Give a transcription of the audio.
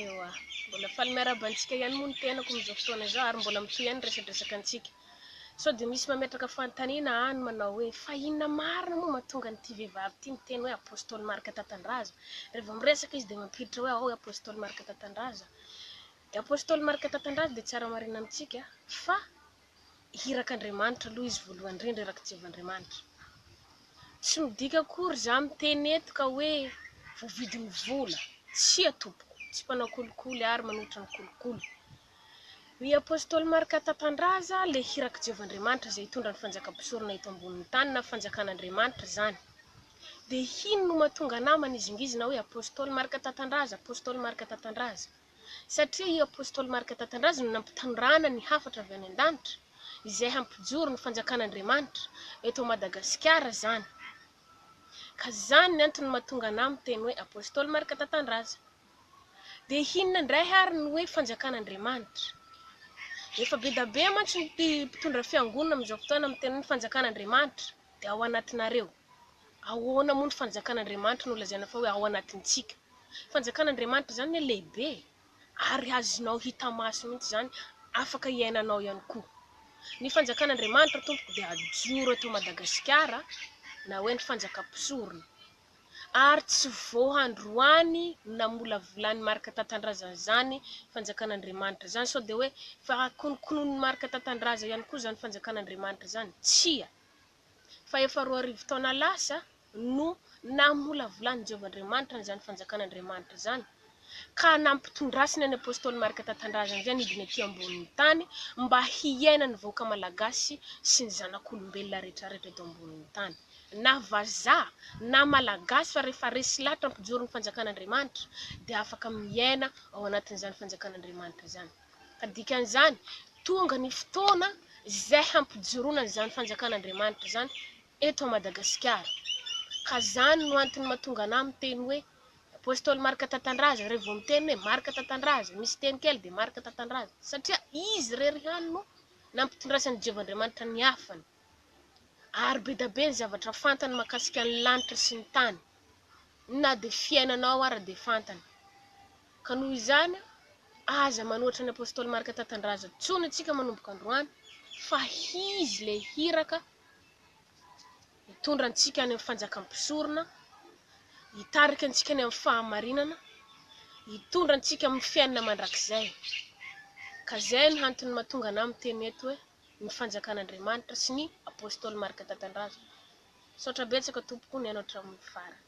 Ewa, mbola faly miarahaba antsika ihany moa ny tenako amin'izao fotoana izao ary mbola mitohy ihany ny resadresaka antsika. Sao dia misy mametraka fanontaniana any manao hoe fa inona marina moa mahatonga an'ity vehivavy ity miteny hoe Apostoly Marc Tatandraza? Raha vao miresaka izy dia mampiditra hoe ahoy Apostoly Marc Tatandraza? Dia Apostoly Marc Tatandraza dia tsara marihina amintsika fa hiraka Andriamanitra aloha izy voalohany indrindra iraka Jehovah Andriamanitra. Tsy midika akory za miteny eto ka hoe voavidy ny vola, tsia tompoko, tsy mpanao kolikoly ary manohitra ny kolikoly. Ry Apostoly Marka Tatandraza le hiraka Jehovah Andriamanitra izay hitondra ny fanjaka mpisorona eto ambonin'ny tany na fanjakan' Andriamanitra izany. Dia hino no mahatonga anah manizingizina hoe Apostoly Marka Tatandraza, Apostoly Marka Tatandraza. satria i apostoly Marka Tatandrazo no nampitandràna ny hafatra avy any an-danitra izay hampijoro ny fanjakan'Andriamanitra eto Madagasikara izany ka izany ny antony mahatonga anà miteny hoe apostoly Marka Tatandraza dia hinona indray ary ny hoe fanjakan'Andriamanitra? efa bedabe mantsy ny mpitondra fiangonana amin'izao fotoana miteny hoe ny fanjakan'Andriamanitra dia ao anatinareo, ahoana moa ny fanjakan'Andriamanitra no lazaina fa hoe ao anatintsika? Fanjakan'Andriamanitra izany anie lehibe e! Ary azonao hita maso mihitsy izany, afaka iainanao ihany koa. Ny Fanjakan'Andriamanitra tompoko dia hajoro eto Madagasikara na hoe ny Fanjakam-pisorona. Ary tsy vao androany no namolavolan'i Marc Tatandraza an'izany Fanjakan'Andriamanitra izany. Sao dia hoe efa konokononin'i Marc Tatandraza ihany koa izany Fanjakan'Andriamanitra izany? Tsia! Fa efa roa arivo taona lasa no namolavolan'i Jehovah Andriamanitra an'izany Fanjakan'Andriamanitra izany, ka nampitondrasiny an'i Apostoly Marka Tatandrazana izay nidina ety ambonin'ny tany mba hiaina ny vahoaka Malagasy sy ny zanak'olombelona rehetrarehetra eto ambonin'ny tany, na vazaha na Malagasy, fa rehefa resy lahatra ampijory ny Fanjakan'Andriamanitra dia afaka miaina ao anatin'izany Fanjakan'Andriamanitra izany. Ka dikan'izany, tonga ny fotoana izay hampijoroana an'izany Fanjakan'Andriamanitra izany eto Madagasikara. Ka zany no antony matonga anah miteny hoe Apostoly Marc Tatandraza re vao miteny hoe Marc Tatandraza misy teny kely de Marc Tatandraza satria izy irery ihany no nampitondrasan'i Jehovah Andriamanitra ny hafany ary bedabe ny zavatra fantany makasika ny lanitra sy ny tany na de fiainana ao ara de fantany ka noho izany aza manohatra ny Apostoly Marc Tatandraza tsony tsika manomboka androany fa hizy le hiraka hitondra antsika any amin'ny fanjakan'ny mpisorona, hitarika antsika any amin'ny fahamarinana, hitondra antsika amin'ny fiainana mandrakizay. Ka izay no antony mahatonga anah miteny eto hoe ny fanjakan'Andriamanitra sy ny Apostoly Marc Tatandraza. Misaotra betsaka tompoko nihaino hatramin'ny farany.